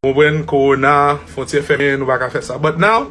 Ou konprann korona, fontyè fèmen nou paka fè sa. But now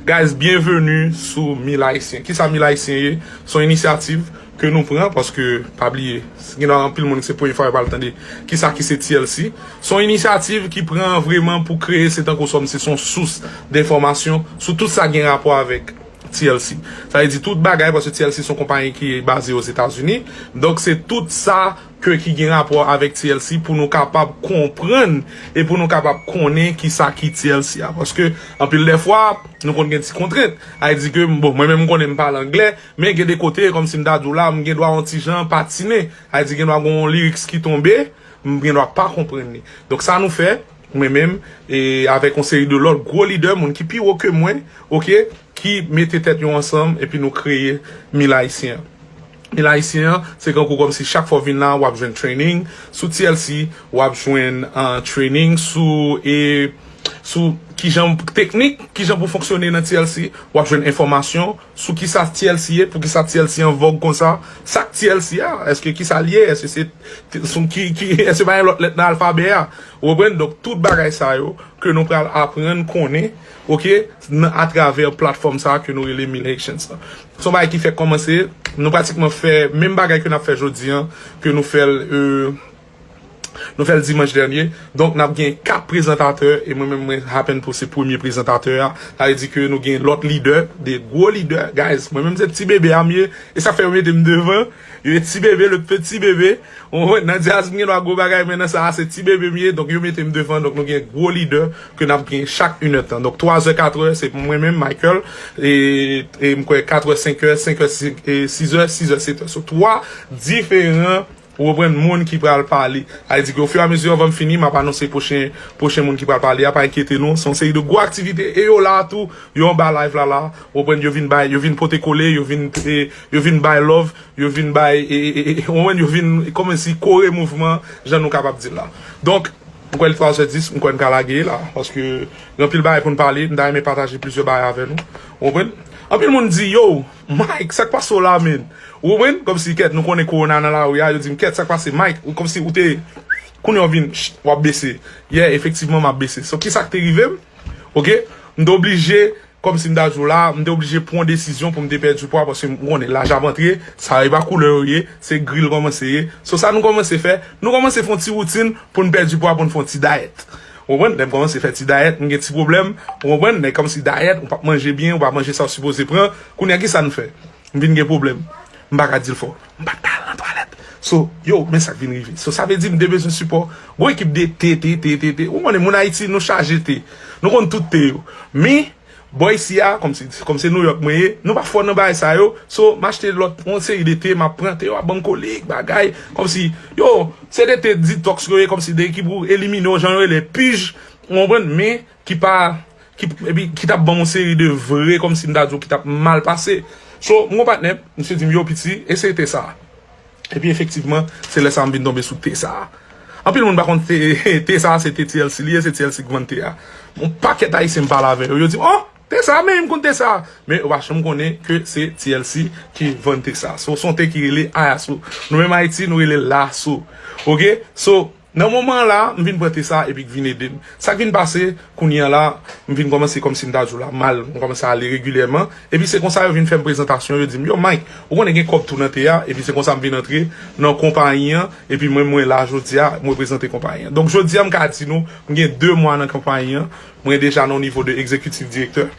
guys byenveni sou mil ayisyen. Kisa mil ayisyen ye? Son inisyativ ke nou pran paske pa bliye gen nan anpil moun se premye fwa yo pral tande kisa ki se TLC. Son inisyativ ki pran vreman pou kreye se tankou sòm se son sous denfòmasyon sou tout sa gen rapò avèk TLC. Sa vle di tout bagay paske TLC son konpayi ki baze Ozetazini. Donk se tout sa. ke ki gen rapò avèk TLC pou nou kapab konprann e pou nou kapab konnen ki sa ki TLC a. Paske anpil dè fwa, nou konn gen ti kontrent. A di ke, bon, mwen menm m konnen m pale angle, men gen de kote, kòm si m ta di w la, m gen dwa yon ti jan patinen. A di gen dwa gen yon lyrics ki tonbe, m gen dwa pa konprann li. Donk sa nou fè, mwen menm, e avèk yon seri de lòt gwo lidè, moun ki pi wo ke mwen, ok, ki mete tèt yo ansanm epi nou kreye Mil Ayisyen an. Mil ayisyen an se kankou kòmsi chak fwa w vin la wap jwenn training sou TLC wap jwenn training sou e sou kijan teknik kijan pou fonksyone nan TLC wap jwenn enfòmasyon sou kisa TLC ye poukisa TLC an vòg konsa sak TLC a eske kisa li ye eske se sou ki ki eske se pa yon lòt lèt nan alfabè a ou konprann donk tout bagay sa yo ke nou pral aprann konnen Ok, nan atravè platfòm sa ke nou rele Mil Haitians lan. Se yon bagay ki fèk kòmanse, nou pratikman fè menm bagay ke nap fè jodi an, ke nou fèl e nou fèl dimanch dènye. Donk nap gen 4 prezantatè e mwen menm mwen happen pou se premye prezantatè a. Sa vle di ke nou gen lòt lidè, de gwo lidè. Guys, mwen menm se ti bebe a m ye, e sa fè yo mete m devan. Yo ti bebe le petit bebe nan jazz m gen dwa gwo bagay men nan sa a se ti bebe m ye donk yo mete m devan donk nou gen gwo lidè ke nap gen chak inè tan donk twazè katrè se pou mwen menm Michael e m kwè katrè senkè senkè sizè sizè setè so twa diferan ou konprann moun ki pral pale sa vle di ke ofiramezi anvan m fini map anonse pwochen pwochen moun ki pral pale a pa enkyete nou se yon seri de gwo aktivite e yo la tou yo anba live la la ou konprann yo vin bay yo vin pote kole yo vin Yo vin bay love, yo vin bay, ou konprann, yo vin kòmanse kore mouvman jan nou kapab di l la. Donk, m kwè li 3 zè 10, m kwè n ka lage la paske gen anpil bagay pou n pale, m ta renmen pataje plizyè bagay avè nou. Ou konprann? Anpil moun di, Yow, Mike, sa k pase w la menn? Ou konprann? Kòmsi, kèt, nou konnen kowona nan lari a, yo di m, kèt, sa k pase Mike? Ou kòmsi ou te, kounye a w vin, chit, w ap bese. Yeah, efektivman m ap bese. So, kisa k te rive m? Ok, m te oblije Kòm si m ta di w la, m te oblije pran desizyon pou m te pèdi pwa paske m konnen laj ap antre, sa yo e pa koulè yo ye, se gri l kòmanse ye. So sa nou kòmanse fè, nou kòmanse fè yon ti woutin pou n pèdi pwa, pou n fè yon ti dayèt. Ou konprann? Lè m kòmanse fè ti dayèt, m gen ti pwoblèm, ou konprann? Lè kòm si dayèt, ou pa p manje byen, ou pa manje sa w sipoze pran, kounye a ki sa n fè? M vin gen pwoblèm. M pa ka di l fò. M pa t ka al nan twalèt. So, yo, men sa k vin rive. So, sa vle di m te bezwen sipò gwo ekip de te, te, te, te, te. Ou konnen, moun Ayiti, nou chaje te. Nou konn tout te yo. Men, bò isi a, kòm se, kòm se Nouyòk mwen ye, nou pa fò nan bagay sa yo. So, m achte lòt, yon seri de te, m ap pran. Te yo ap ban m kolik, bagay. Kòm si, yo, se de te ditòks yo ye, kòm si de ki pou elimine yon jan yo rele pij. Ou konprann? Men, Ki pa, ki, epi ki tap banm yon seri de vre kòmsi m ta di w ki tap mal pase. So, m gon patnè, misye di m, yo piti, eseye te sa a. Epi efektivman, se lè sa a m vin tonbe sou te sa a. Anpil moun pa konn te, te sa a se te TLC li ye, se TLC ki vann te a. Yon pakèt Ayisyen m pale avè yo, yo di m, oh! Te sa a, men m konn te sa a. Men yo pa janm konnen ke se TLC ki vann te sa a. So, se yon te ki rele Ayaso. Nou menm Ayiti, nou rele Lasso. Ok? So. Nan moman an la, m vin pran te sa epi k vin ede m. Sa k vin pase, kounye an la, m vin kòmanse kòmsi m ta di w la mal, m kòmanse ale regilyèman, epi se konsa yo vin fè m prezantasyon, yo di m, yo Mike, ou konnen gen kòb tou nan te a, epi se konsa m vin antre nan konpayi an, epi mwen mwen la jodi a, m reprezante konpayi an. Donk jodi a m ka di nou m gen 2 mwa nan konpayi an, mwen deja nan nivo de egzekitif direktè.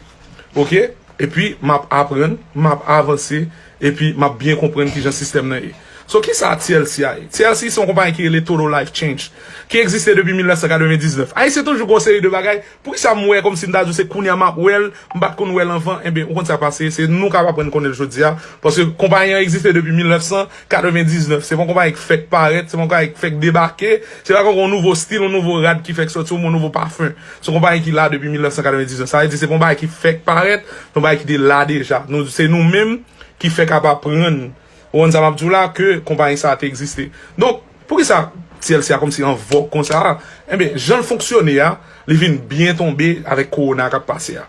ok epi map aprann map avanse epi map byen konprann kijan sistèm nan ye so kisa TLC a ye TLC se yon konpayi ki rele Total Life Change ki egziste depi 1999 ayisyen toujou gen yon seri de bagay poukisa m wè kòmsi m ta di w se kounya map wè l m pat konn wè l anvan enben ou konn sa k pase se nou kap aprann konnen l jodi a paske konpayi an egziste depi 1900. 99, se pa yon konpayi k fèk parèt, se pa yon konpayi k fèk debake, se pa yon nouvo stil, yon nouvo rad ki fèk soti, yon nouvo pafen. Se yon konpayi ki la depi 1999. Sa vle di se pa yon bagay ki fèk parèt, se yon bagay ki te la deja. Se nou menm ki fèk ap aprann, ou konprann sa m ap di w la, ke konpayi sa a te egziste. Donk, pou ki sa TLC a kòmanse an vòg konsa a? Enben, jan l fonksyone a, li vin byen tonbe avèk kowona k ap pase a.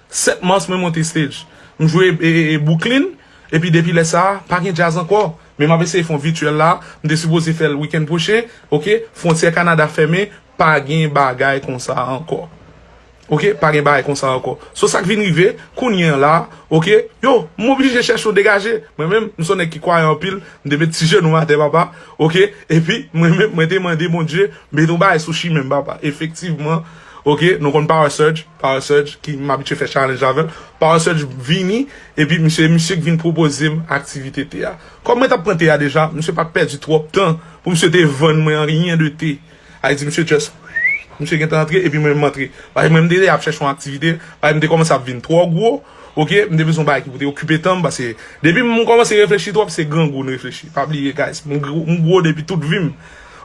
7 mars mwen monte stage. M jwe Bwouklin epi depi lè sa pa gen djaz ankò. Men m ap eseye fè yon vityèl la. M te sipoze fè l wikenn pwochen. Ok, fwontyè Kanada fèmen, pa gen bagay konsa ankò. Ok, pa gen bagay konsa ankò. So sa k vin rive, kounye an la, ok, yo, m oblije chèche yon degaje. Mwen menm, m s on nèg ki kwayan anpil, m te met ti jenou m atè papa, ok, epi mwen menm mwen te mande Bondye met yon bagay sou chimen m papa. Efektivman, Ok nou konn power surge power surge ki m abitye fè challenge avèl power surge vini epi misye e misye k vin pwopozem aktivite te a kòm mwen tap pran te a deja misye pat pèdi twòp tan pou misye te vann mwen anyen de te a li di misye just wouuff misye gentan antre epi mwen menm m antre paske mwen m te ap chèche yon aktivite paske m te kòmanse ap vin twò gwo ok m te bezwen yon bagay ki pou te okipe tanm paske depi m kòmanse reflechi twòp se grangou m reflechi pa bliye guys m gwo depi tout vim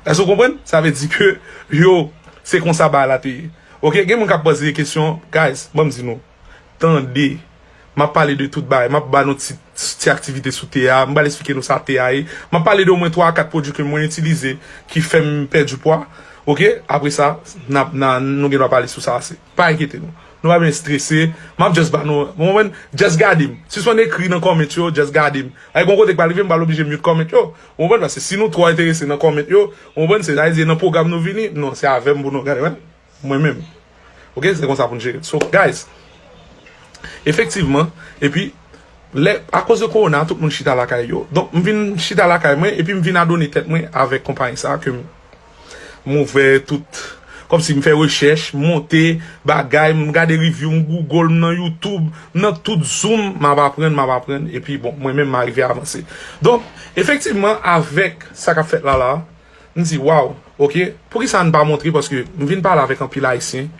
èske w konprann sa vle di ke yo. Se konsa bagay la te ye. Ok gen moun kap poze kesyon guys banm di nou tande map pale de tout bagay map ba nou ti ti aktivite sou te a m pral esplike nou sa te a ye map pale de omwen 3 a 4 pwodwi ke mwen itilize ki fèm pèdi pwa ok apresa nap nan nou gen dwa pale sou sa ase. Pa enkyete nou. Nou pa bezwen strese. Map just ba nou, nou konprann? Just gade m. Sispann ekri nan comment yo, just gade m. Paske gon kote k pral rive m pral oblije mute comment yo. Ou konprann? Paske si nou twò enterese nan comment yo, ou konprann, se sa vle di e nan pwogram nou vini? Non, se avè m pou nou gade wè. Mwen menm. Ok, se konsa pou n jere l. So, guys, efektivman, epi lè, akoz de kowona tout moun chita lakay yo. Donk m vin chita lakay mwen epi m vin adone tèt mwen avèk konpayi sa ke m M ouvè tout, kòmsi m fè rechèch, m monte bagay, m gade review, m google, m nan youtube, m nan tout zoom, m ap aprann, m ap aprann, epi bon, mwen menm m arive avanse. Donk, efektivman, avèk sa k ap fèt la la, m di waw, ok, poukisa n pa montre, paske m vin pale avèk anpil Ayisyen,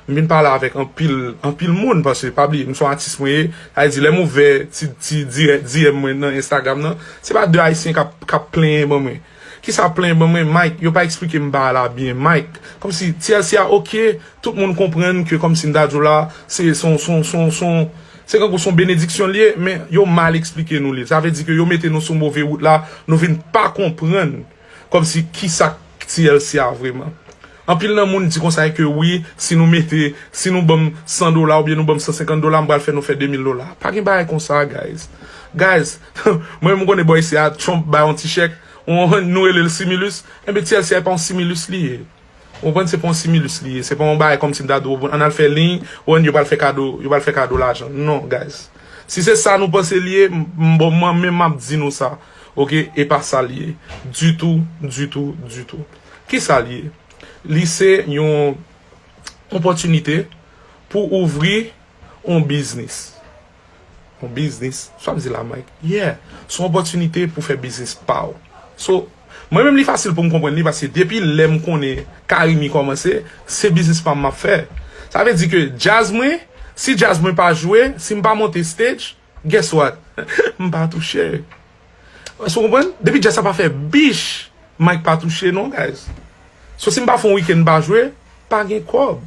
m vin pale avèk anpil, anpil moun, paske pa bliye, m son atis mwen ye, sa vle di lè m ouvè ti, ti dirè, DM mwen nan Instagram nan, se pa de Ayisyen k ap, k ap plenyen ban mwen. Kisa plen ban mwen Mike yo pa explikem ba la byen Mike komsi TLC a ok tout moun konprann ke komsi m ta diw la se son son son son se kankou son benediksyon l ye men yo mal explike nou li sa vle di ke yo mete nou sou move wout la nou vin pa konprann komsi kisa k TLC a vreman anpil nan moun di konsa ke wi si nou mete si nou banm 100 dola oubyen nou banm 150 dola m pral fè nou fè 2000 dola pa gen bagay konsa guys guys Mwen menm m konnen bò isi a Trump bay yon ti chèk, ou konprann, nou rele l similus, enben ti èl se pa yon similus li ye. Ou konprann, se pa yon similus li ye, se pa yon bagay kòmsi m ta di w bon ann al fè liy, ou konprann, yo pral fè kado, yo pral fè kado lajan. Non guys. Si se sa nou panse li ye, m bon mwen menm m ap di nou sa, ok, e pa sa li ye ditou, ditou, ditou. Ki sa li ye? Li se yon opòtinite pou ouvri. On biznis. On biznis. Sa wap di la Mike? Yeah. Son opòtinite pou fè biznis pa w. So, mwen menm li fasil pou m konprann li paske depi lè m konnen Carimi kòmanse, se biznis pa m map fè. Sa vle di ke djaz mwen, si djaz mwen pa jwe, si m pa monte stage, Guess what? M pa touche. Èske w konprann? Depi jazz sa pa fè bich, Mike pa touche non guys. So si m pa fè yon weekend m pa jwe, pa gen kòb.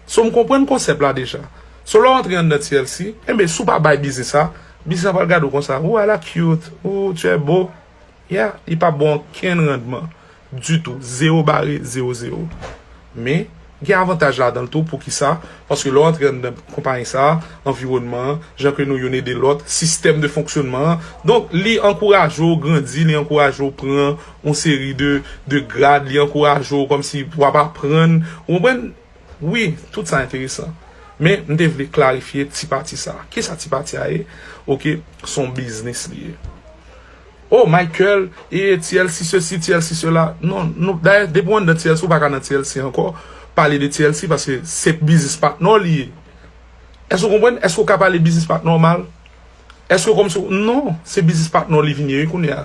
So m konprann konsèp la deja. So lè w antre anndan TLC, enben si w pa bay biznis sa, biznis la pral gade w konsa, ooh a la cute, ooh tu es beau. Yeah, li pa bon ankenn randman. ditou, zewo bare, zewo zewo. Men, gen avantaj ladan l tou, poukisa? Paske lè w antre anndan konpayi sa a, anviwònman an, jan ke nou youn ede lòt, sistèm de fonksyònman an, donk li ankouraje w grandi, li ankouraje w pran yon seri de grad, li ankouraje w kòmsi w ap aprann, ou konprann? Wi, tout sa enteresan. Men, m te vle klarifye ti pati sa a. Kisa ti pati a ye? Ok, s on biznis li ye. Oh Michael ee TLC sesi TLC sela non nou dayè depi w anndan TLC ou pa ka nan TLC ankò pale de TLC paske se biznis patnè w li ye èske ou konprann èske ou ka pale biznis patnè w mal èske kòmsi w non se biznis patnè w li vin ye wi kounye a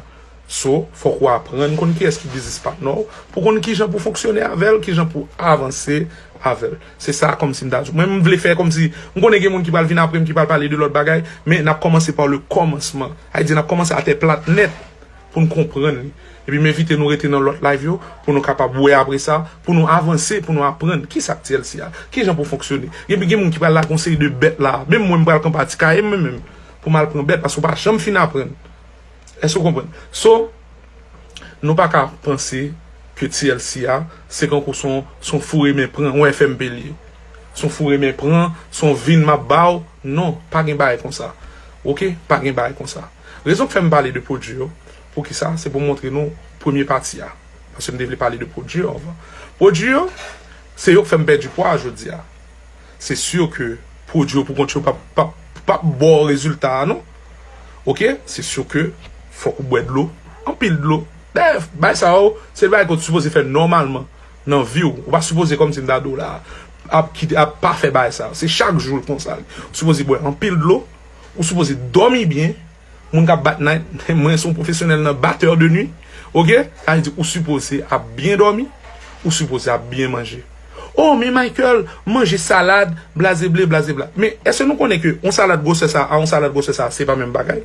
so fòk ou aprann konn kiyès ki biznis patnè w pou konn kijan pou fonksyone avè l kijan pou avanse avè l. Se sa kòmsi m ta di w. Mwen m vle fè kòmsi, m konnen gen moun ki pral vin apre m ki pral pale de lòt bagay, men n ap kòmanse pa le kòmansman. Sa vle di n ap kòmanse atè plat nèt pou n konprann li. Epi m envite nou rete nan lòt live yo pou nou kapab wè apre sa, pou nou avanse, pou nou aprann ki sa k TLC a, ki jan pou fonksyone. Epi gen moun ki pral lage yon seri de bèt la a. Menm mwen m pral kanpe atikaye mwen menm pou m al pran bèt paske w pa janm fin aprann. Èske w konprann? So. Nou pa ka panse ke TLC a se kankou son son foure men pran wè FMP l ye. Son foure men pran, son vin m ap ba w, non, pa gen bagay konsa. Oke, pa gen bagay konsa. Rezon k fè m pale de pwodui yo, poukisa, se pou m montre nou premye pati a. Paske m te vle pale de pwodui yo anvan. Pwodui yo, se yo k fè m pèdi pwa a jodi a. Se sûr ke pwodwi yo pou kont yo pap ba w rezilta a non ok se sûr ke fòk ou bwè dlo anpil dlo dayè bagay sa yo se bagay ke w t sipoze fè nòmalman nan vi w ou pa sipoze kòmsi m ta di w la ap kite ap pa fè bagay sa yo se chak jou l konsa ou sipoze bwè anpil dlo ou sipoze dòmi byen. Moun kap bat night mwen son profesyonèl nan batteur de nuit ok sa vle di ou sipoze ap byen dòmi ou sipoze ap byen manje oh men Michael manje salad blazeble blazebla men eske nou konnen ke yon salad gwosè sa a yon salad gwosè sa a se pa menm bagay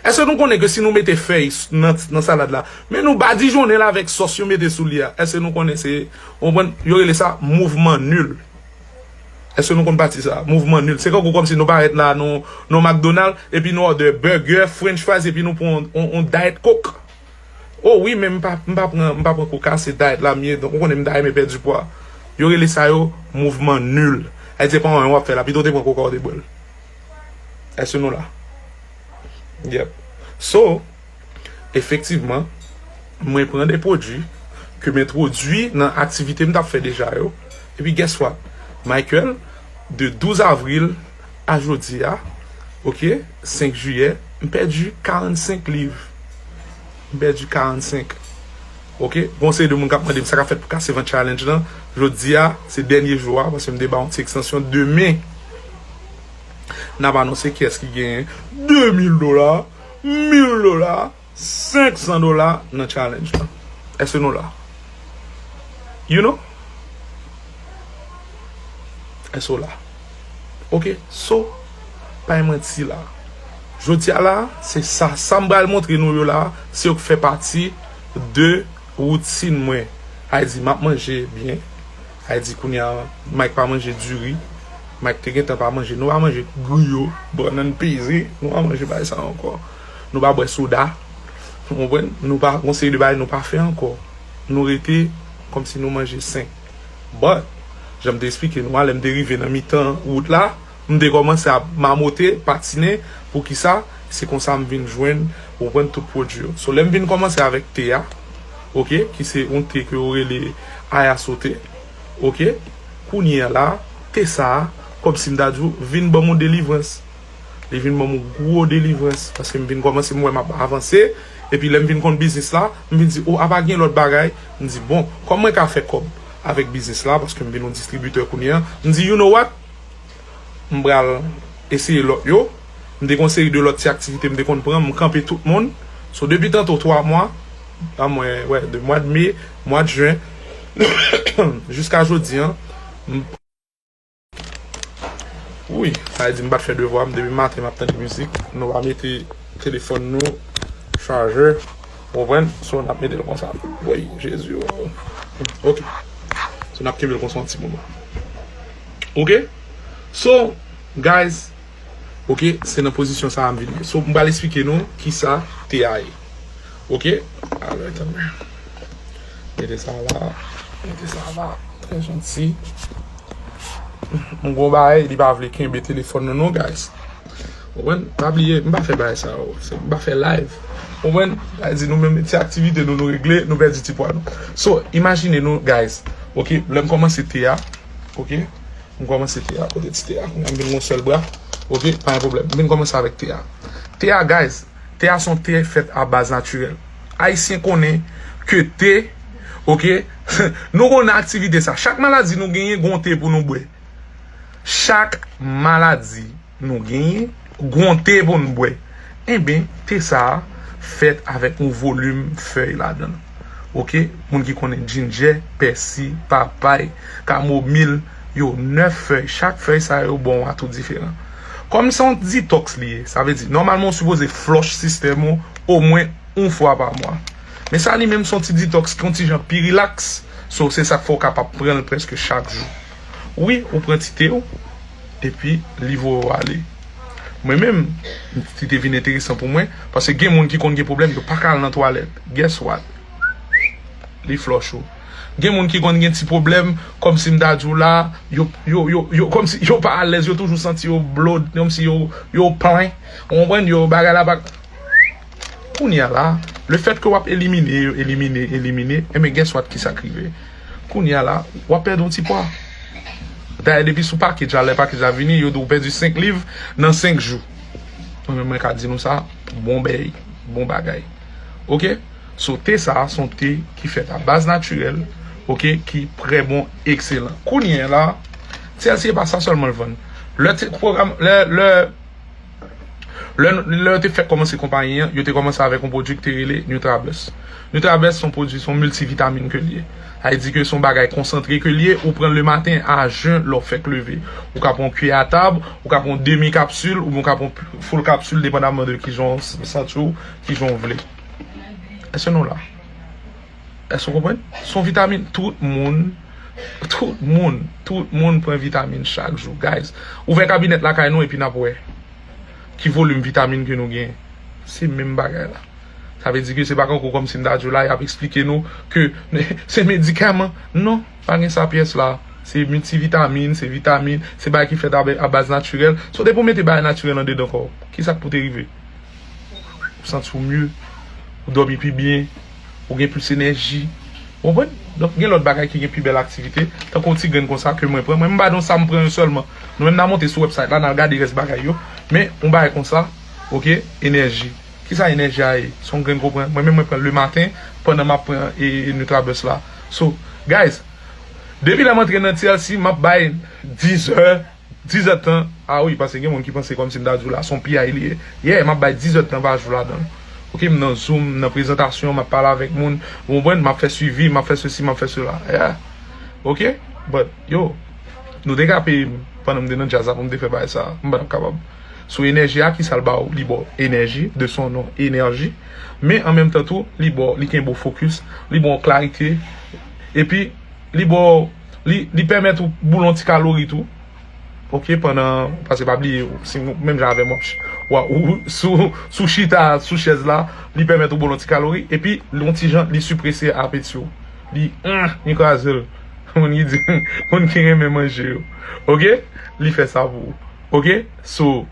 eske nou konnen ke si nou mete fèy nan salad la men nou badijonnen l avèk sòs yo mete sou li a eske nou konnen se ou konprann yo rele sa mouvman nul. Eske nou konn pati sa a? Mouvman nul. Se kankou kòmsi nou parèt la a nan yon McDonald epi nou òdè bègè, french fries epi nou pran yon Diet Coke. O wi men m pa m pa pran m pa pran Coca se Diet la m ye donk ou konnen m ta renmen pèdi pwa. Yo rele sa yo mouvman nul. Ayiti se pa anyen w ap fè la pito w te pran Coca ou te bwè l. Eske nou la? Yep. So. Efektivman, mwen pran de pwodui ke m entwodui nan aktivite m t ap fè deja yo, epi guess what? Michael, de 12 avril a jodi a, ok, 5 jiyè, m pèdi 45 liv. M pèdi 45. Ok, gen yon seri de moun k ap mande m sa k ap fèt pou kase vant challenge lan. Jodi a, se dènye jou a, paske m te ba yon ti ekstansyon. Demen, n ap anonse kiyès ki genyen 2000 dola. 1000 dola, 500 dola nan challenge lan. Eske nou la? You know? Eske w la? Ok, so, pay manti la. Jodi a la, se sa, sa m bal montre nou yo la, se yo k fè pati de woutin mwen. Hay di, m ap manje byen. Ay di kounya Mike pa manje diri Mike te gentan pa manje nou pa manje griyo bannann peze nou pa manje bagay sa ankò nou pa bwè soda ou konprann nou pa gon seri de bagay nou pa fè ankò nou rete kòmsi nou manje sen but janm te esplike nou a lèm te rive nan mitan wout la. M te kòmanse ap mamote, patinen, poukisa, se konsa m vin jwenn, ou konprann, tout pwodui yo. So lè m vin kòmanse avèk te a, ok, ki se yon te ke yo rele Ayasso te, ok, kounye a la, te sa a, kòm si m ta di ou, vin ban m yon delivrans. Li vin ban m yon gwo delivrans, paske m vin kòmanse m wè m ap avanse, epi lè m vin konn biznis la, m vin di, o, apa gen lòt bagay? M di, bon, kòm mwen ka fè kòb avèk biznis la, paske m vin yon distribitè kounye a, m di, you know what? m pral eseye lòt yo. M te gen yon seri de lòt ti aktivite m te konn pran, m kanpe tout moun. So depi tanto 3 mwa, an mwen wè de mwad me, mwad jen, jiska jodi an, m. Wouy! Sa vle di m pa t fè devwa m depi maten m ap tande mizik. Nou pa mete telefòn nou chajè, ou konprann? So n ap mete l konsa. Wouy! Jezi o! Ok. So n ap kenbe l konsa yon ti moman. Ok So guys Ok se nan pozisyon sa a m vin ye So m pral esplike nou kisa te a ye Ok Alright tanpri Mete sa la Mete sa la Trè janti M gon bagay li pa vle kenbe telefòn nan non guys Ou konprann Pa bliye m pa fè bagay sa yo M pa fè live Ou konprann Sa vle di nou menm ti aktivite nou nou regle nou pèdi ti pwa nou So imajine nou guys Ok lè m kòmanse te a. Ok m komanse te a kote ti te a kounya m vin gon sèl bra ok pa gen pwoblèm m vin komanse avèk te a te a guys te a son te fèt a baz natirèl ayisyen konnen ke te ok nou konnen aktivite sa chak maladi nou genyen gon te pou nou bwè chak maladi. Nou genyen g'on te pou n bwè. Enben, te sa a fèt avèk yon volim fèy ladan l. Ok, moun ki konnen djinjè, pèsi, papay, kamomil, yo 9 fèy. Chak fèy sa yo ba w yon atou diferan. Kòm se yon ditòks li ye, sa vle di, nòmalman ou sipoze flòch sistèm ou omwen yon fwa pa mwa. Men sa li menm se yon ti ditòks ki yon ti jan pi rilaks, so se sa k fè ou kapab pran l prèske chak jou. Wi ou pran tite ou epi li voye ou ale. Mwen menm li te vin enteresan pou mwen paske gen moun ki konn gen pwoblèm yo pa ka al nan twalèt guess what li flush ou. Gen moun ki konn gen ti pwoblèm kòmsi m ta di w la yo kòmsi yo pa alèz yo toujou santi yo blowed kòmsi yo plen ou konprann yo bagay la pa Kounye a la, le fèt ke wap elimine yo, elimine, elimine, enben guess what kisa k rive? Kounye a la, wap pèdi yon ti pwa. Dayè depi sou package la, lè package la vini, yo di w pèdi 5 liv nan 5 jou. Mwen menm mwen ka di nou sa, bon bèy, bon bagay. Ok? So te sa a, son te ki fèt a baz natirèl, ok, ki trè bon, ekselan. Kounye a la, TLC e pa sa sèlman l vann. Lè te pwogram, lè, lè. Lè yo te fèk kòmanse konpayi an, yo te kòmanse avèk yon pwodui ki te rele Nutrabus. Nutrabus se yon pwodui, se yon miltivitamin ke l ye. Sa vle di ke se yon bagay konsantre ke l ye, ou pran l le maten a jen lè w fèk leve. Ou ka pran yon kiyè a tab, ou ka pran yon demi kapsul oubyen ou ka pran yon full kapsul depandaman de kijan w santi w, kijan w vle. Èske nou la? Èske ou konprann? Se yon vitamin tout moun, tout moun, tout moun pran vitamin chak jou. Guys, ouvè kabinèt lakay nou epi n ap wè ki volim vitamin ke nou genyen. Se menm bagay la. Sa vle di ke se pa kankou kòmsi m ta di w la y ap esplike nou ke se medikaman. Non, pa gen sa pyès la. Se miltivitamin, se vitamin, se bagay ki fèt a baz natirèl. So depi ou mete bagay natirèl andedan kò w, ki sa k pou te rive? Ou santi w mye, ou dòmi pi byen. ou gen plis enèji, ou konprann? Donk gen lòt bagay ki gen pi bèl aktivite, tankou yon ti grenn konsa ke mwen pran, mwen m ba nou sa m pran yo sèlman, nou menm na monte sou wèbsayt la, na al gade rès bagay yo, men yon bagay konsa, ok, enèji, kisa enèji a ye? Son grenn konprann, mwen menm mwen pran l le maten, pandan m ap pran e Nutrabust la, so, guys, depi lè m antre nan TLC, m ap bay 10 è. 10 èd tan ah wi paske gen moun ki panse kòmsi m ta di w la son piyay li ye yeah map bay 10 èd tan pa jou ladan l ok m nan zoom m nan prezantasyon map pale avèk moun ou konprann map fè swivi map fè sesi map fè sela yeah ok but yo nou te ka peye m pandan m te nan djaz la pou m te fè bagay sa m pa tap kapab sou enèji a kisa l ba w li ba w enèji de son non enèji men an menm tan tou li ba w li kenbe w fokis li ba w klarite epi li ba w. Li pèmèt ou boulon ti kalori tou. Ok pandan, pase pa bliye si ou menm jan avèm wap ou sou chita sou chèz la, li pèmèt ou boulon ti kalori epi yon ti jan li siprese apeti ou. Li humm li kraze l. Moun ki di moun ki renmen manje yo. Ok li fè sa pou ou. Ok so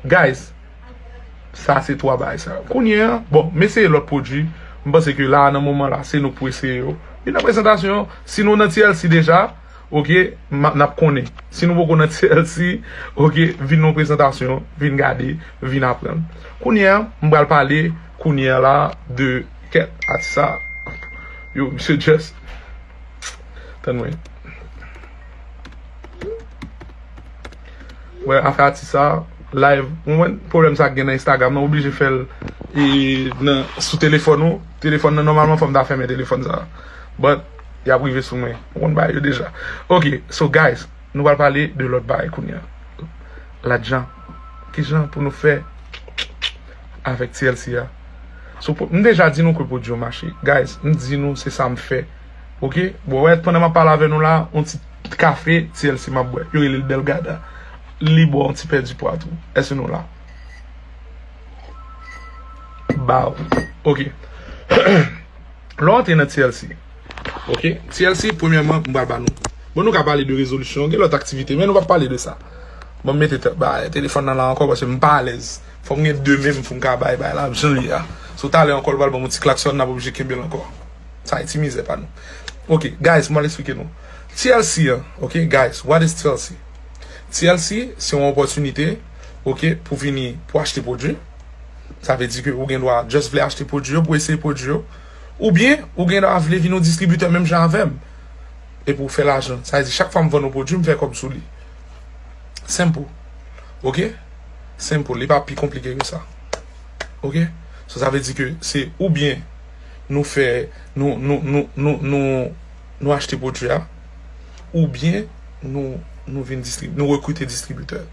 guys. Sa se 3 bagay sa. Kounye an, bon, m eseye lòt pwodui. M panse ke la a, nan moman la a, se nou k pou eseye yo. Epi nan prezantasyon, si nou nan TLC deja, ok, m ap, n ap konnen. Si nou poko nan TLC, ok, vin nan yon prezantasyon, vin gade, vin aprann. Kounye an, m pral pale kounye an la a de kèk atis sa a. Yo, misye just, tann mwen. Wè afè atis sa live ou wè pwoblèm sa gen nan Instagram nan ou blije fèl nan sou telefòn ou telefòn nan nòmalman fòm ta fèmen telefòn sa but yap rive sou mwen ou konn bagay yo deja ok so guys nou pral pale de lòt bagay kounya lajan kijan pou nou fè avèk TLC a so m deja di nou ke pwodwi yo mache guys m di nou se sam fè ok bon wè pandan map pale avè nou la on ti. Kafe TLC map bwè. Yo rele l Belgada. Li bon w ti pèdi pwa tou. Èske nou la? Baw. Ok. Lè w antre nan TLC. Ok. TLC premyèman m pral ba nou. Bon nou ka pale de rezolisyon. Gen lòt aktivite men nou pap pale de sa. Bon m mete telefòn nan la ankò paske m pa alèz. Fò m gen 2 men m pou m ka bay bay la jan l ye a. So talè ankò l pral ban m yon ti klaksòn n ap oblije kenbe l ankò. Sa e ti mizè pa nou. Ok. Guys m pral esplike nou. TLC an ok guys what is TLC? TLC se yon opòtinite ok pou vini pou achte pwodwi sa vle di ke ou gen dwa just vle achte pwodwi yo pou eseye pwodwi yo oubyen ou gen dwa vle vin yon distribitè menm jan avèm epi ou fè lajan sa vle di chak fwa m vann yon pwodwi m fè kòb sou li simple ok simple li pa pi konplike ke sa ok sa vle di ke se oubyen nou fè nou nou nou nou nou nou achte pwodui a oubyen nou vin distribitè, nou rekrite distribitè.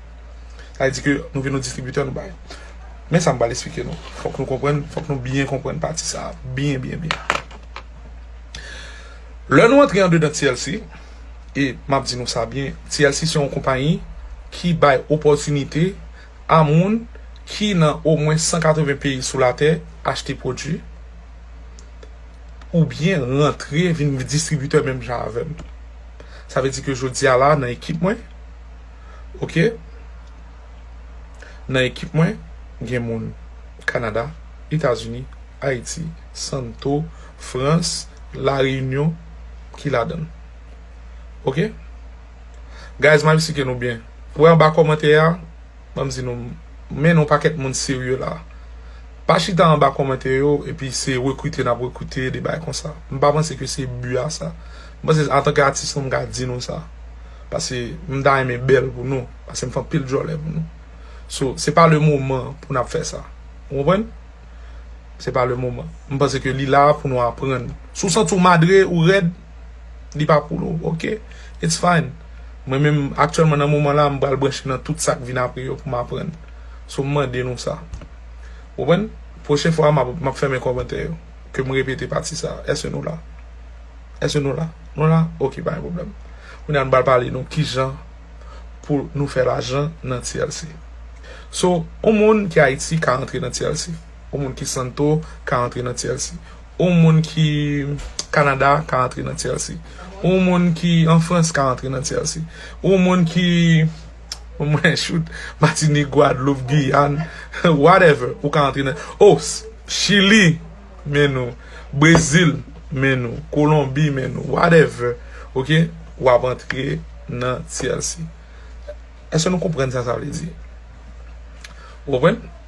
Sa vle di ke nou vin yon distribitè nou bay. Men sa m pral esplike nou. Fòk nou konprann, fòk nou byen konprann pati sa a byen byen byen. Lè nou antre andedan TLC, e m ap di nou sa byen, TLC se yon konpayi ki bay opòtinite a moun ki nan omwen 180 peyi sou latè achte pwodui. ou byen rantre vin distribitè menm jan avèm tou sa vle di ke jodi a la nan ekip mwen ok nan ekip mwen gen moun Canada etazini ayiti santo frans la reyinyon ki ladann ok guys map esplike nou byen wè anba kòmantè a. An m di nou, m mennen yon pakèt moun serye la. Pa chita anba kòmantè yo epi se rekrite n ap rekrite, de bagay konsa. M pa panse ke se bi a sa. M panse antanke atis nou m ka di nou sa. Pase m ta renmen bèl pou nou. Pase m fè anpil djòlè pou nou. So, se pa le moman pou n ap fè sa. Ou konprann? Se pa le moman. M panse ke li la pou nou aprann. Si w santi w madre, ou rèd. Li pa pou nou ok. It's fine. Mwen menm aktyèlman nan moman la m pral branche nan tout sak vin apre yo pou m aprann. So m mande nou sa. Ou konprann? Pwochen fwa map fèmen kòmantè yo. Ke m repete pati sa. Eske nou la? Eske nou la? Nou la? Ok pa gen pwoblèm. Kounya nou pral pale nou kijan pou nou fè lajan nan TLC. So on moun ki Ayiti ka rantre nan TLC. On moun ki Santo ka rantre nan TLC. Yon moun ki Canada ka antre nan TLC. Yon moun ki an France ka antre nan TLC. Yon moun ki mwen shoot Martinique, Guadeloupe, Guyane whatever ou ka antre nan oh Chili men nou Brazil men nou Colombie men nou whatever ok ou ap antre nan TLC. Eske nou konprann sa sa vle di? Ou konprann?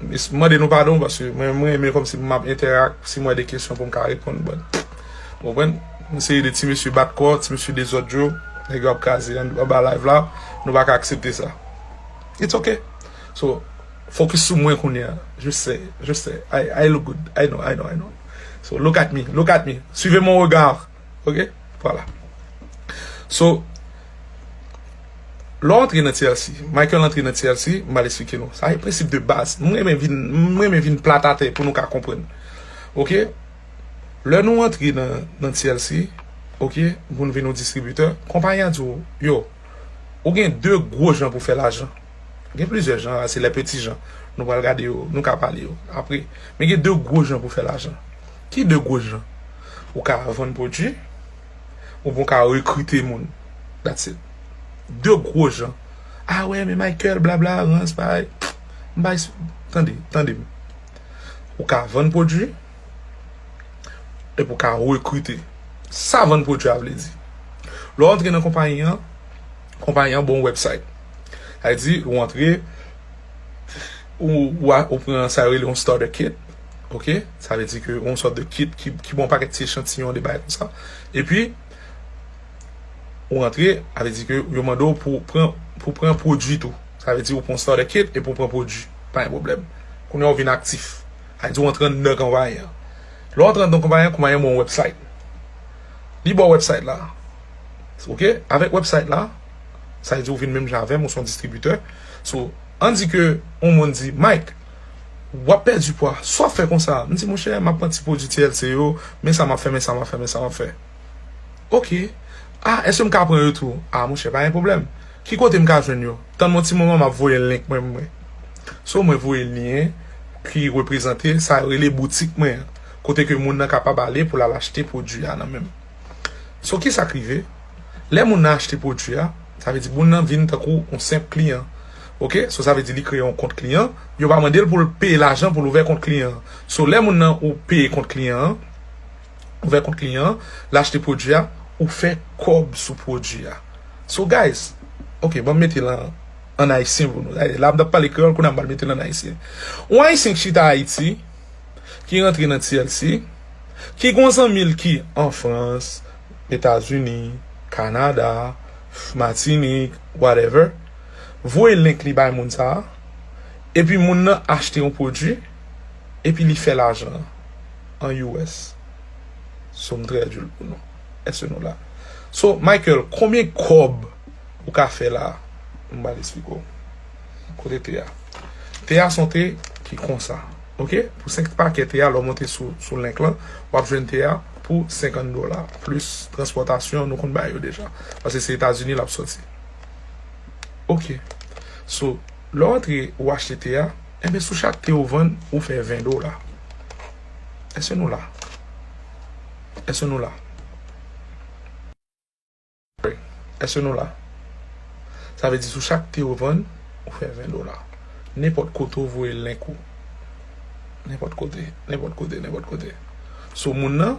M mande nou padon paske mwen renmen kòm si m ap entèrak si m wè de kesyon pou m ka reponn bòt. Ou konprann? Yon seri de ti mesye bat kò, ti mesye dezòd yo, nèg yo ap kraze anba live la, nou pa ka aksepte sa. It's ok. So, fokis sou mwen kounye a. Je se, je se. I look good. I know, I know, I know. So, look at me, look at me. Suivez mon regard. Ok Vwala So Lè w antre nan TLC Michael antre nan TLC M pral esplike nou Sa se prensip de baz M renmen vin M renmen vin plat atè Pou nou ka konprann Ok Lè nou antre nan TLC Ok Pou nou vin yon distribitè Konpayi a di w Yo Ou gen 2 gwo jan pou w fè lajan Gen plizyè jan Se lè peti jan Nou pral gade yo Nou ka pale yo Apre Men gen 2 gwo jan pou w fè lajan Ki de gwo jan ou ka vann pwodwi ou byen w ka rekrite moun that's it. De gwo jan ah wè men Michael blabla rans bagay m pa esp tande tande m ou ka vann pwodwi epi w ka rekrite sa vann pwodwi a vle di lè w antre nan konpayi an konpayi an ba w yon wèbsayt sa vle di ou antre ou pran sa yo rele yon starter kit ok sa vle di ke yon sòt de kit ki ki bon pakèt ti echantiyon de bagay konsa epi ou rantre a vle di ke yo mande w pou pran pou pran pwodui tou sa vle di ou pran yon starter kit epi ou pran pwodui pa gen pwoblèm kounye a ou vin aktif a di ou antre anndan konpayi an lè w antre anndan konpayi an konpayi an ba w yon wèbsayt li ba w wèbsayt la ok avèk wèbsayt la sa vle di ou vin menm jan avè m ou se yon distribitè. So, an di ke yon moun di, Mike, wap pèdi pwa, sa wap fè konsa? M di, monchè, map pran ti pwodui TLC yo, men sa map fè, men sa map fè, men sa map fè. Ok. A, èske m ka pran yo tou? A, monchè, pa gen pwoblèm. Ki kote m ka jwenn yo? Tann m yon ti moman map voye link mwen mwen. So, mwen voye lyen ki reprezante sa yo rele boutik mwen an, kote ke moun nan kapab ale pou l al achte pwodui a nan men m. So ki sa k rive, lè moun nan achte pwodui a, sa vle di moun nan vin tankou yon senp kliyan ok, so sa vle di li kreye yon kont kliyan, yo pa mande l pou l peye lajan pou l ouvè kont kliyan an, so lè moun nan ou peye kont kliyan an, ouvè kont kliyan an, l achte pwodui a, ou fè kòb sou pwodui a. So guys, ok banm mete l an an ayisyen pou nou, la m t ap pale kreyòl kounye a m pral mete l an ayisyen, yon ayisyen k chita Ayiti. ki rantre nan TLC, ki gon zanmi l ki an Frans, Etazini, Kanada, Matinik, whatever, voye link li bay moun sa, epi moun nan achte yon pwodwi, epi li fè lajan an us. So m trèdu l pou nou. Eske nou la? So Michael, konbyen kòb ou ka fè la? M pral esplike w. Kote te a? Te a son te ki konsa. Ok pou 5 pakè te a lè w monte sou link lan w ap jwenn te a pou 50 dola plis transpòtasyon nou konn bay yo deja paske se Etazini l ap soti. Ok so lè w antre ou achte te a enben sou chak te ou vann ou fè 20 dola. Èske nou la? Èske nou la? Frè, èske nou la? Sa vle di sou chak te ou vann, ou fè 20 dola. Nenpòt kote ou voye link ou. Nenpòt kote, nenpòt kote, nenpòt kote. So moun nan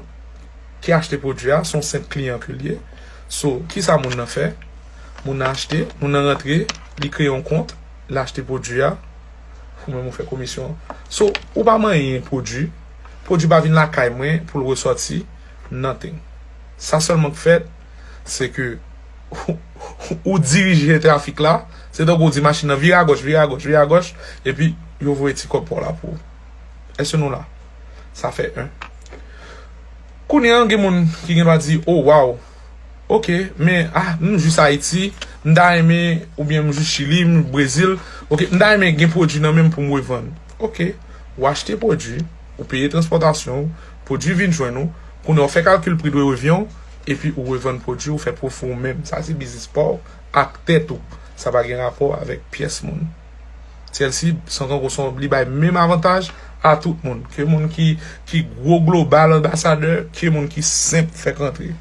ki achte pwodui a, son senp kliyan ke l ye. So, kisa moun nan fè? Moun nan achte, moun nan rantre, li kreye yon kont, li achte pwodui a, ou menm ou fè komisyon. So, ou pa manyen pwodui, pwodui pa vin lakay mwen pou l resòti. Nothing. Sa sèlman k fèt, se ke ou dirije trafik la, se tankou ou di machin nan vire agòch, vire agòch, vire agòch, epi yo voye ti kòb pa w la pou ou. Èske nou la? Sa fè 1. Kounye an, gen moun ki gen dwa di, o, waw, oke, men, a, m jis Ayiti, m ta renmen, oubyen m jis Chili, m Brezil, oke, m ta renmen gen pwodui nan men m pou m revann. Oke, ou achte pwodui, ou peye transpòtasyon ou. Pwodwi vin jwenn ou, kounye a ou fè kalkil pri dwe revyen w, epi ou revann pwodwi ou fè pwofi ou menm. Sa se biznis pa w ak tèt ou. Sa pa gen rapò avèk pyès moun. Chelsea san konkou son li bay menm avantaj a tout moun. Ke moun ki gwo global anbasadè, ke moun ki senp fèk rantre.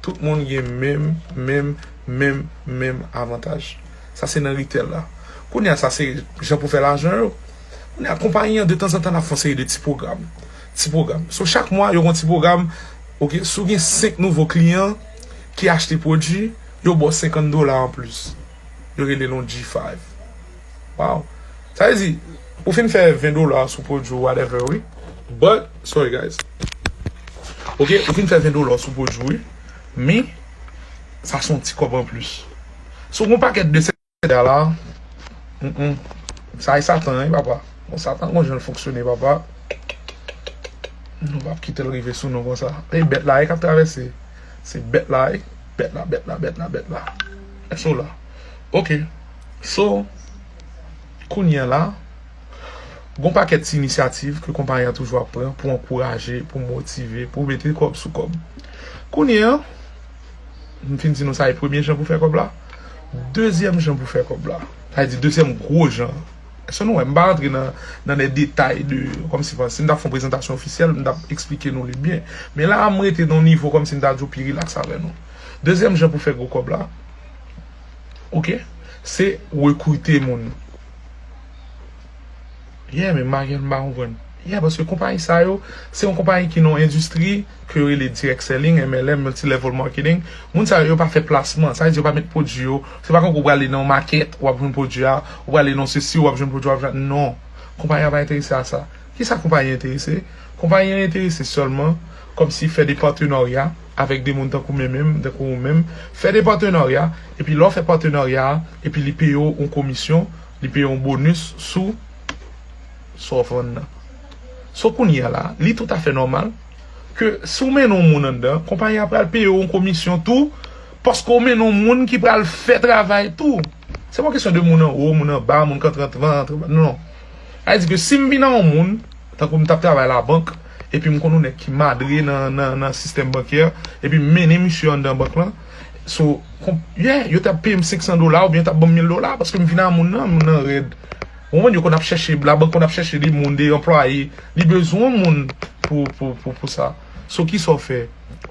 Tout moun gen menm, menm, menm, menm avantaj. Sa se nan ritèl la. Kounye a sa se jan pou fè lajan yo. Kounye a konpayi an detanzantan l ap fè yon seri de ti pwogram. Ti pwogram. So chak mwa yo gen yon ti pwogram ok si w gen 5 nouvo kliyan ki achte pwodwi yo ba w 50 dola anplis yo rele l yon G five waww sa vle di ou fin fè 20 dola sou pwodwi w whatever wi but sorry guys ok ou fin fè 20 dola sou pwodwi w wi men sa se yon ti kòb anplis si w gen yon pakèt de 5. Kounya la humm sa e satan wi papa bon satan gon janl fonksyone papa nou pap kitel rive sou nou konsa e bèt la wi kap travèse se bèt la wi bèt la bèt la bèt la bèt la èske ou la ok so kounya la gon pakèt ti inisyativ ke konpayi an toujou ap pran pou ankouraje pou motive pou mete kòb sou kòb kounya. M fin di nou sa e premye jan pou fè kòb la. Dezyèm jan pou fè kòb la. Sa vle di dezyèm gwo jan an. Èske nou wè m pa rantre nan de detay de kòm si si m ta fè yon prezantasyon ofisyèl m ta esplike nou li byen. Men la a m rete nan yon nivo kòm si m ta di w pi rilaks avè nou. Dezyèm jan pou fè gwo kòb la ok se rekrite moun. Yeah men Maryàn m pa konprann. Yeah paske konpayi sa yo se yon konpayi ki nan yon endistri ke yo rele direct selling, MLM, multi level marketing. Moun sa yo yo pa fè plasman. Sa vle di yo pa met pwodui yo. Se pa tankou ou prale nan yon makèt wap jwenn pwodui a, ou prale nan sesi wap jwenn pwodui a. Non. Konpayi a pa enterese a sa. Kisa konpayi an enterese? Konpayi an enterese sèlman kòmsi fè de patenarya avèk de moun tankou men menm, tankou ou menm. Fè de patenarya epi lè w fè patenarya a epi li peye w yon komisyon. Li peye yon bonus sou sa w vann nan. So kounye a la, li toutafè nòmal ke si w mennen yon moun anndan, konpayi a pral peye w yon komisyon tou paske w mennen yon moun ki pral fè travay tou. Se pa yon kesyon de moun anwo, moun anba, moun kap antrevan, antrevan, non. Sa vle di ke si m vin nan yon moun, tankou m t ap travay labank, epi m konn yon nèg ki madre nan sistèm bankyè, epi m mennen misye anndan bank lan, So, yeah, yo tap peyem 500 dola oubyen yo tap banm 1000 dola paske m vin a moun nan, moun nan rèd. Ou konprann, yo konn ap chèche, labank konn ap chèche li moun, li anplwaye, li bezwen moun pou, pou, pou, pou sa. So kisa w fè?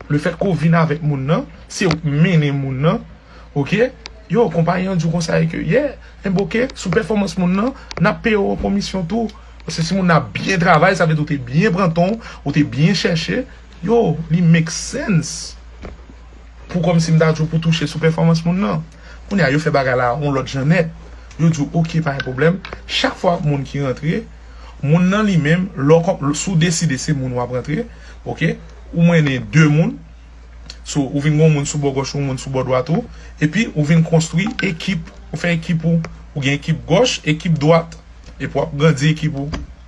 Le fèt ke w vin avèk moun nan, se ou k mennen moun nan, ok, yo, konpayi an di w konsa e ke, yeah, enben ok, sou pèfòmans moun nan, nap peye w an komisyon tou. Paske si moun nan ap byen travay, sa vle di ou te byen pran tan w, ou te byen chèche. Yo, li make sense pou kòmsi m ta di w pou touche sou pèfòmans moun nan. Kounye a, yo fè bagay la yon lòt jan nèt. Yo di w ok, pa gen pwoblèm, chak fwa moun ki rantre, moun nan li menm, lè w kòm, si w deside se moun w ap rantre, ok, ou mennen 2 moun, so, ou vin gen yon moun sou bò gòch ou, yon moun sou bò dwat ou, epi ou vin konstwi ekip, ou fè ekip ou, ou gen ekip gòch, ekip dwat, epi w ap grandi ekip ou.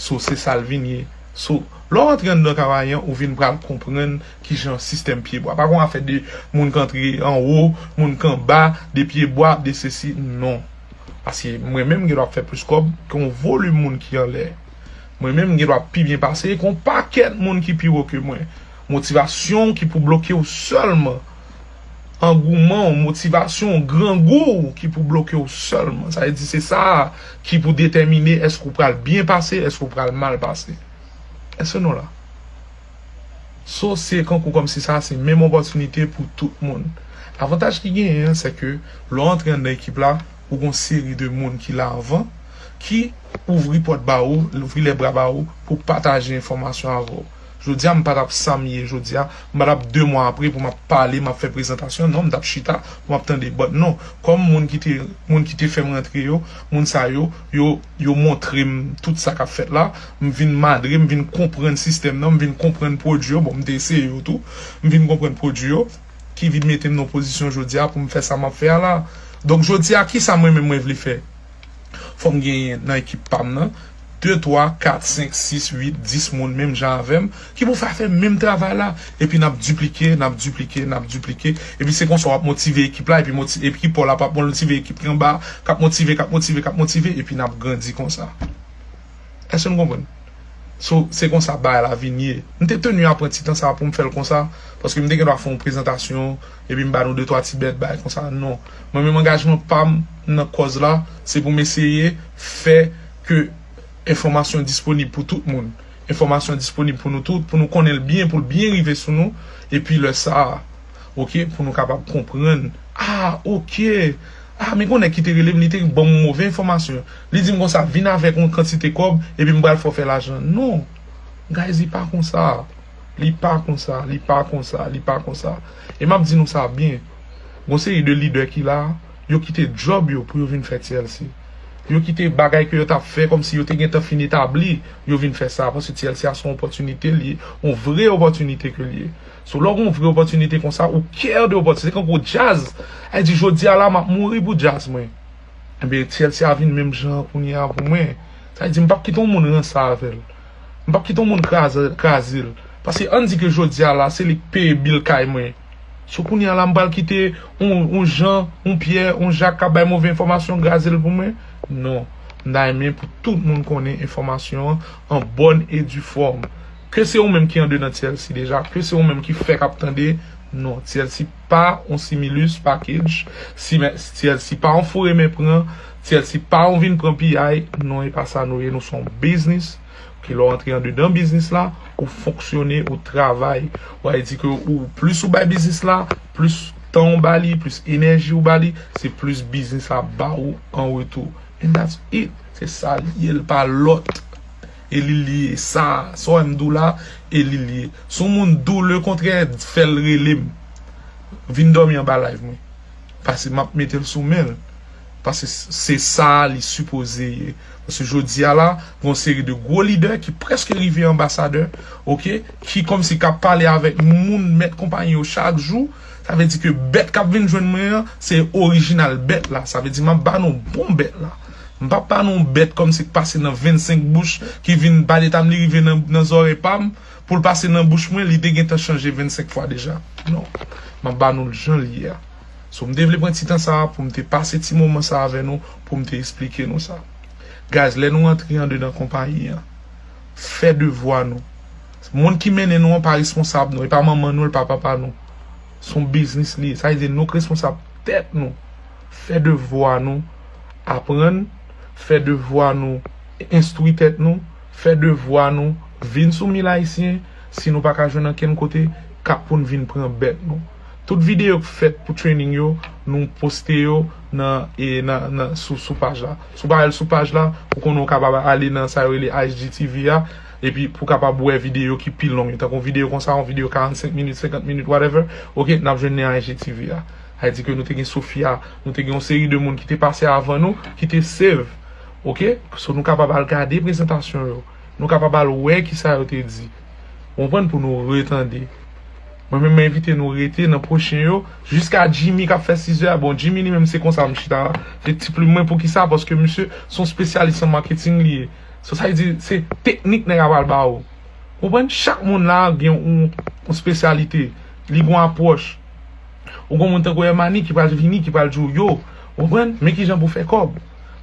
So se sa l vin ye. So, lè w antre anndan travay an, ou vin pral konprann ki jan sistèm pyebwa. Pa gon afè de moun k antre anwo, moun k anba, de pyebwa, de sesi. Non. Paske mwen menm m gendwa fè plis kòb ke yon volim moun ki anlè. Mwen menm m gendwa pi byen pase ke yon pakèt moun ki pi wo ke mwen. Motivasyon w ki pou bloke w sèlman. angouman w, motivasyon w, grangou w ki pou bloke w sèlman. Sa vle di se sa a ki pou detèmine èske ou pral byen pase, èske ou pral mal pase. Yes or no la? So se kankou kòmsi sa a se menm opòtinite pou tout moun. Avantaj ki genyen an se ke lè w antre anndan ekip la, ou gon seri de moun ki la anvan ki ouvri pòt ba ou, louvri lè bra ba ou pou pataje enfòmasyon avè w. Jodia m patap sam ye jodia, m patap 2 mwa apre pou map pale map fè prezantasyon non m tap chita pou map tande but non kòm moun ki te moun ki te fèm rantre yo moun sa yo yo yo montrem tout sa kap fèt la m vin madre m vin konprann sistèm nan m vin konprann pwodwi yo bon m te eseye yo tou m vin konprann pwodwi yo ki vin metem nan pozisyon jodia poum fè sa map fè a la donk jodia kisa mwen menm mwen vle fè. Fò m genyen nan ekip pa m nan, de, twa, kat, senk, sis, uit, dis moun menm jan avè m, ki pou fè fè menm travay la. Epi n ap diplike, n ap diplike, n ap diplike. Epi se konsa w ap motive ekip la, epi Pòl ap ap motive ekip ki anba a, k ap motive, k ap motive, k ap motive, epi n ap grandi konsa. Èske nou konprann? So, se konsa bagay la vin ye. M te tenu a pran ti tan sa pou m fè l konsa, paske m te gen dwa fè yon prezantasyon, epi m ba nou de twa ti bèt bagay konsa. Non. Mwen menm angajman pa m nan kòz la, se pou m eseye fè ke enfòmasyon disponib pou tout moun. Enfòmasyon disponib pou nou tout, pou nou konnen l byen, pou l byen rive sou nou, epi lè sa a, ok, pou nou kapab konprann, ah, ok! Ah men gon nèg ki te rele m li te ban m move enfòmasyon li di m konsa vin avèk yon kantite kòb epi m pral fè w fè lajan non guys li pa konsa li pa konsa li pa konsa li pa konsa e m ap di nou sa byen gon seri de lidè ki la yo kite djòb yo pou yo vin fè TLC yo kite bagay ke yo t ap fè kòmsi yo te gentan fin etabli yo vin fè sa paske TLC a se yon opòtinite l ye yon vre opòtinite ke l ye So lè w gen vre opòtinite konsa ou care de opòtinite se kankou djaz a di jodi a la map mouri pou djaz mwen enben TLC a vin menm jan kounye a pou mwen sa vle di m pap kite yon moun ranse avè l m pap kite yon moun kraze l paske ann di ke jodi a la se li k peye bil kay mwen so kounye a la m pral kite yon Jan yon Pyè yon Jak kap bay move enfòmasyon graze l pou mwen non m ta renmen pou tout moun konnen enfòmasyon an bòn e di fòm. Ke se ou menm ki ande nan TLC deja, ke se ou menm ki fèk ap tande, non, TLC pa yon similus pakej, TLC pa yon foure men pran, TLC pa yon vin pran piyay, non e pa sa nou ye, nou se yon biznis, ke lè w antre andedan biznis la, ou fonksyone, ou travay, ou a di ke ou plis ou bay biznis la, plis tan ou ba li, plis enèji ou ba li, se plis biznis la ap ba ou an retou, and that's it, se sa li ye, li pa lòt. E li li ye sa sa w wè m di w la e li li ye si w moun di w le kontrè fè l rele m vin dòmi anba live mwen pase m ap mete l sou men l pase se sa li sipoze ye pase jodi a la gen yon seri de gwo lidè ki prèske rive anbasadè ok ki kòmsi k ap pale avèk moun mèt konpayi yo chak jou sa vle di ke bèt k ap vin jwenn mwen an se orijinal bèt la sa vle di m ap ba nou bon bèt la. M pap pale yon bèt kòmsi k pase nan 25 bouch ki vin pale tanm li rive nan zòrèy pa m pou l pase nan bouch mwen li te gentan chanje 25 fwa deja non m ap ba nou l jan l ye a so m te vle pran ti tan sa a pou m te pase ti moman sa a avè nou pou m te esplike nou sa guy's lè nou antre andedan konpayi an fè devwa nou moun ki mennen nou an pa responsab nou e pa manman nou e l pa papa nou s on biznis li ye sa vle di nou k responsab tèt nou. Fè devwa nou Aprann Fè devwa nou Enstwi tèt nou Fè devwa nou Vin sou mil ayisyen Si nou pa ka jwenn ankenn kote Kap pou n vin pran bèt nou Tout videyo k fèt pou training yo Nou poste yo nan nan sou paj la Si w pa al sou paj la ou konnen w kapab ale nan sa yo rele IGTV a epi pou w kapab wè videyo ki pi long yo tankou videyo konsa yon videyo 45 minit 50 minit whatever ok n ap jwenn nen IGTV a. Sa di ke nou te gen Sofia, nou te gen yon seri de moun ki te pase avan nou, ki te save. Ok? So nou kapab al gade prezantasyon yo. Nou kapab al wè ki sa yo te di. Ou konprann pou nou retande. Mwen menm mwen envite nou rete nan pwochen yo, jiska Jimmy kap fè sizè a. Bon, Jimmy li menm se konsa m chita la. Se ti plim mwen pou ki sa? Paske misye son spesyalis an maketing li ye. So sa di, se teknik nèg a pral ba ou. Ou konprann? Chak moun la gen yon spesyalite. Li gen yon apwòch. Ou gen yon moun tankou Hermani ki pral vini, ki pral di w yo, ou konprann, men kijan pou w fè kòb.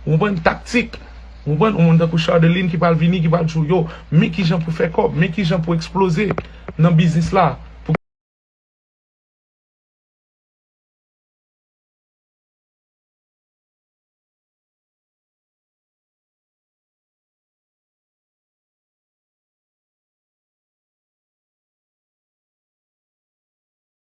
Ou konprann, taktik. Ou konprann, yon moun tankou Chardeline ki pral vini, ki pral di w yo, men kijan pou w fè kòb, men kijan pou w eksploze nan biznis la.